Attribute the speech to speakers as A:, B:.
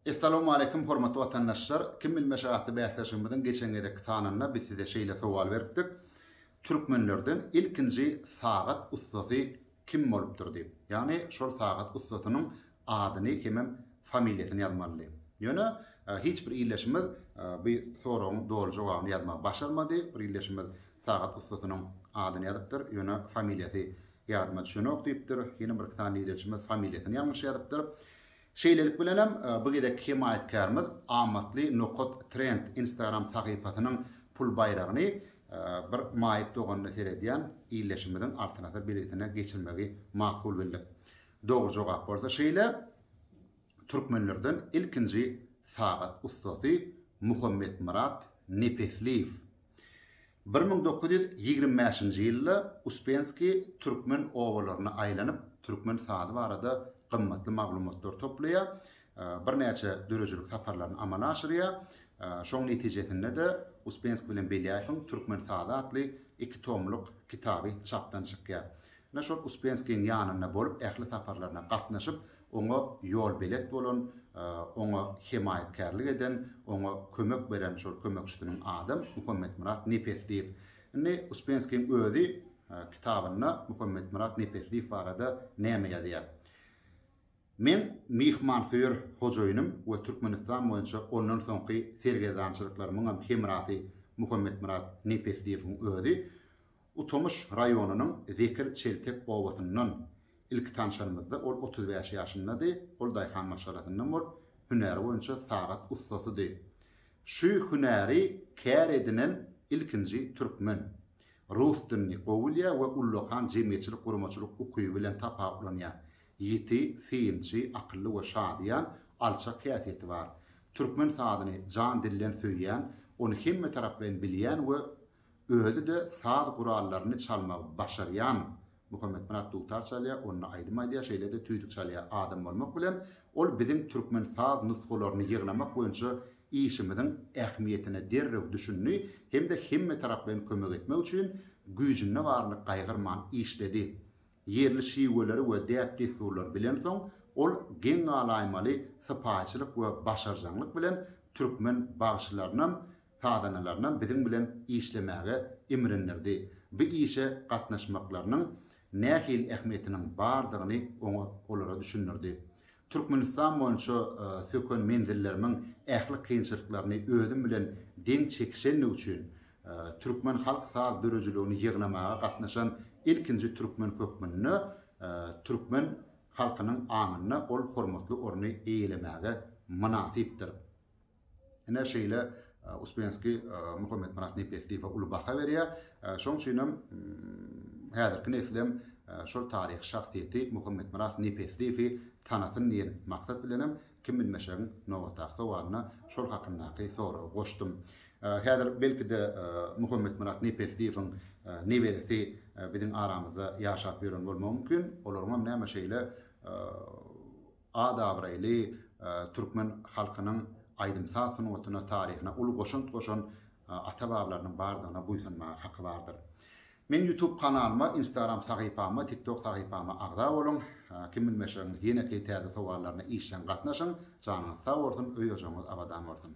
A: Essalawmaleýkim hormatly watandaşlar! Kim bilmeşi atly bäsleşigimiziň geçen gezekki sanynda biz size şeýle sowal beripdik, Türkmenlerden ilkinji sagat ussasy kim bolupdyr diýip. Ýagny şol sagat ussasynyň adyny hemem familiýasyny ýazmalydy. Ýöne hiç bir ildeşimiz bu soragyň doly jogabyny ýazmagy başarmady. Bir ildeşimiz sagat ussasynyň adyny ýazypdyr, ýöne familiýasy ýadyma düşenok diýipdir. Ýene birki sany ildeşimiz familiýasyny ýalňyş ýazypdyr. Şeýlelik bilen hem, bu gezekki hemaýatkärimiz Amatly nokat trend Instagram sahypasynyň pul baýragyny bir maýyp doganyna seredýän ildeşimiziň altynasar belgisine geçirmegi makul bildik. Dogry jogap bolsa şeýle, Türkmenlerden ilkinji sagat ussasy Muhammetmyrat Nepesliýew. Bir müň dokuz ýüz ýigrimi bäşinji ýylda Uspenskiý türkmen obalaryna aýlanyp, türkmen sazy barada gymmatly maglumatlary toplaýar, birnäçe döredijilik saparlaryny amala aşyrýar. Şoň netijesinde-de Uspenskiý bilen Belýaýewiň Türkmen sazy atly iki tomluk kitaby çapdan çykýar. Ine, şol Uspenskiýiň ýanynda bolup, ähli saparlaryna gatnaşyp, Oňa ýolbelet bolan, oňa hemaýatkärlik eden, oňa kömek beren şol kömekçisiniň adam Muhammetmyrat Nepesliýew. Indi Uspenskiň özi kitabynda Muhammetmyrat Nepesliýew barada näme ýazýar? Men myhmansöýer hojaýynym we Türkmenistan boýunça ondan soňky sergezdançylyklarymyňam hemrasy Muhammetmyrat Nepesliýewiň özi. Utomyş raýonynyň Zekir Çeltek obasyndan. Ilki tanşanymyzda ol otuz bäş ýaşyndady, ol daýhan maşgalasyndan bolup, hünäri boýunça sagat ussasydy. Şu hünäri kär edinen ilkinji türkmen. Rus dilini gowy bilýär we ullakan jemgyýetçilik-guramaçylyk ukyby bilen tapawutlanýar. Ýiti, synçy, akylly we şadyýan, alçak häsiýeti bar. Türkmen sazyny jan-dilden söýýän, ony hemmetaraplaýyn bilýän we Özi-de saz gurallaryny çalmagy başarýan Muhammetmyrat dutar çalýar, onda aýdym aýdýar, şeýle-de tüýdük çalýar. Adam bolmak bilen, ol biziň türkmen saz nusgalaryny ýygnamak boýunça işimiziň ähmiýetine derrew düşündi hem-de hemmetaraplaýyn kömek etmek üçin güýjünde baryny gaýgyrman işledi. Ýerli şiweleri we däp-dessurlary bilensoň, ol geň galaýmaly sypaýyçylyk we başarjaňlyk bilen türkmen bagşylarynam sazandalarynam biziň bilen işlemäge imrindirdi, bu işe gatnaşmaklarynyň nähili ähmiýetiniň bardygyny oňa olara düşündirdi. Türkmenistan boýunça söken menzillerimiň ähli kynçylyklaryny özüm bilen deň çekişendigi üçin türkmen halk saz döredijiligini ýygnamaga gatnaşan ilkinji türkmen hökmünde türkmen halkynyň aňynda ol hormatly orny eýelemäge mynasypdyr. Ine şeýle Uspenskiý Muhammetmyrat Nepesliýewe uly baha berýär. Şoň üçin hem häzirki neslem şol taryhy şahsyýeti Muhammetmyrat Nepesliýewi tanasyn diýen maksat bilen hem Kim bilmeşegiň nobatdaky sowalyna şol hakyndaky soragy goşdum. Häzir belki-de Muhammetmyrat Nepesliýewiň neberesi biziň aramyzda ýaşap ýören bolmagy mümkin. Olaryň hem näme şeýle At-abraýly türkmen halkynyň aýdym-saz sungatyna, taryhyna uly goşant goşan ata-babalarynyň bardygyna buýsanmaga haky bardyr. Meň YouTube kanalyma, Instagram sahypama, TikTok sahypama agza boluň. Kim bilmeşegiň ýeneki täze sowallaryna işjeň gatnaşyň. Janyňyz sag bolsun, öý-ojagyňyz abadan bolsun!